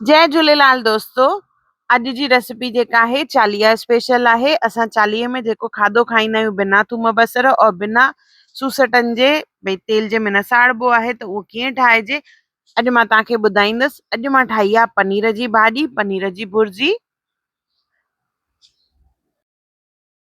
جي جهوليلال دوستو اڄ جي ريسيپي جيڪا آهي چاليهه اسپيشل آهي اسان چاليهه ۾ جيڪو کاڌو کائيندا آهيون بنا ٿوم بصر اور بنا سوسٽن جي ڀي تيل جي منا ساڙبو آهي ته اهو ڪيئن ٺاهجي اڄ مان توهان کي ٻڌائيندس اڄ مان ٺاهي آ پنير جي ڀاڄي پنير جي برجي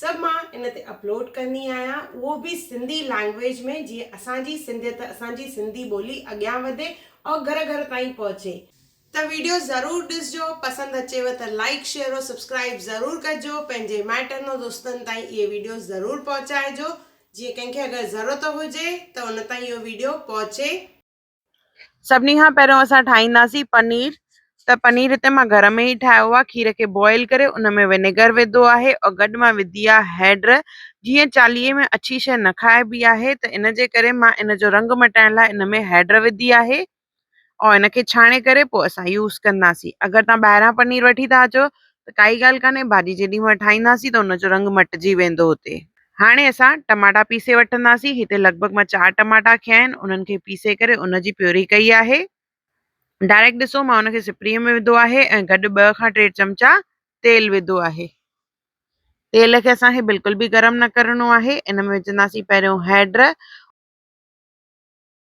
سڀ مان ان تي اپلوڊ ڪندي آهيان اهو به سنڌي لينگويج ۾ جيئن اسان جي سنڌيت اسان جي سنڌي ٻولي اڳيان وڌي ۽ گهر گهر تائين پهچي. ته ويڊيو ضرور ڏسجو پسند اچيو ته لائيڪ شيئر ۽ سبسڪرائيب ضرور ڪجو پنهنجي مائٽن ۽ دوستن تائين اهي ويڊيو ضرور پهچائجو جيئن ڪنهن کي اگر ضرورت هجي ته ان تائين اهو ويڊيو پهچي. سڀني کان پهريون اسان ٺاهينداسين پنير ته پنير هتي مان گهر ۾ ئي ٺاهيو آهي کير کي بوائل ڪري ان ۾ ونيگر وڌو آهي ۽ گڏ مان وڌي آهي هيڊ جيئن چاليهي ۾ اڇي شي نه کائبي آهي ته ان جي ڪري مان ان جو رنگ مٽائڻ لاء ان ۾ هيڊ وڌي آهي ۽ ان کي ڇاڻي ڪري پوء اسان يوز ڪنداسين اگر تان ٻاهران پنير وٺي ٿا اچو ته ڪائي ڳالهه ڪانهي ڀاڄي جيڏي مهل ٺاهينداسين ته ان جو رنگ مٽجي ويندو هتي. هاڻي اسان ٽماٽا پيسي وٺنداسين هتي لڳ ڀڳ مان چار ٽماٽا کنيا آهن انهن کي پيسي ڪري ان جي پيوري ڪئي آهي. ڊائريڪٽ ڏسو مان ان کي سپري ۾ وڌو آهي ۽ گڏ ٻه کان ٽي چمچا تيل وڌو آهي. تيل کي اسان کي بلڪل به گرم نه ڪرڻو آهي ان ۾ وجهنداسين پهريون هيڊ.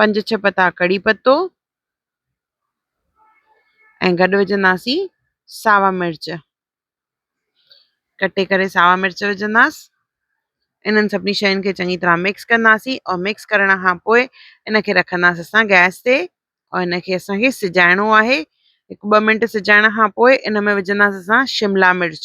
پنج ڇهه پتا ڪڙي پتو ۽ گڏ وجهنداسين ساوا مرچ کٽي ڪري ساوا مرچ وجهنداسين انهن سڀني شين کي چڱي طرح مڪس ڪنداسين ۽ مڪس ڪرڻ کان پوء ان کي رکنداسين اسان گئس تي ۽ ان کي اسانکي سجائڻو آهي هڪ ٻه منٽ سجائڻ کان پوء ان ۾ وجهنداسين اسان شملا مرچ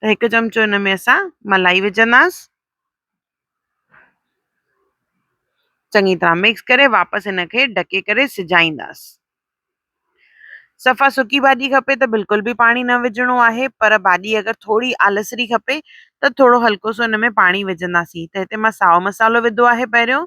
ته هڪ چمچو ان ۾ اسان ملائي وجهنداس چڱي طرح مڪس ڪري واپس ان کي ڍڪي ڪري سجائينداس صفا سڪي ڀاڄي کپي ته بلڪل به پاڻي نه وجهڻو آهي پر ڀاڄي اگر ٿوري آلسري کپي ته ٿورو هلڪو سو ان ۾ پاڻي وجهنداسين ته هتي مان ساو مسالو وڌو آهي پهريون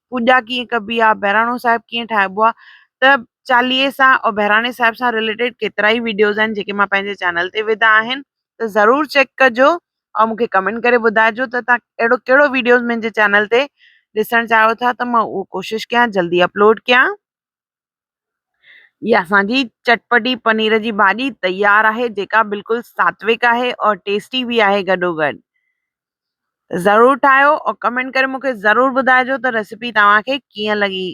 پوڄا ڪيئن ڪبي آ بهراڻو صاحب ڪيئن ٺاهبو آ ته چاليهي سان او بهراڻي صاحب سان رليٽيڊ ڪيترا ئي ويڊيوز آهن جيڪي مان پنهنجي چينل تي وڌا آهن ته ضرور چيڪ ڪجو او مون کي ڪمينٽ ڪري ٻڌائجو ته تان اهڙو ڪهڙو ويڊيوز منهنجي چينل تي ڏسڻ چاهيو ٿا ته مان اهو ڪوشش ڪيان جلدي اپلوڊ ڪيان هي اسان جي چٽپٽي پنير جي ڀاڄي تيار آهي جيڪا بلڪل ساتويڪ آهي اور ٽيسٽي به آهي گڏو گڏ ضرور ٺاهيو اور ڪمينٽ ڪري مونکي ضرور ٻڌائجو ته ريسيپي توهان کي ڪيئن لڳي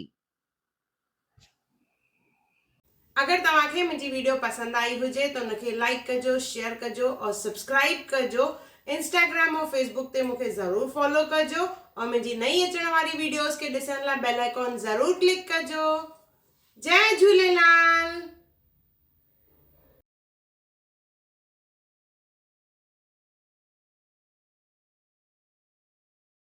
اگر توهان کي منهنجي ويڊيو پسند آئي هجي ته ان کي لائڪ ڪجو شيئر ڪجو اور سبسڪرائب ڪجو انسٽاگرام ۽ فيس بوڪ تي مونکي ضرور فالو ڪجو ۽ منهنجي نئين اچڻ واري ويڊيوز کي ڏسڻ لاء بيل آئيڪون ضرور ڪلڪ ڪجو جئ جهوليلال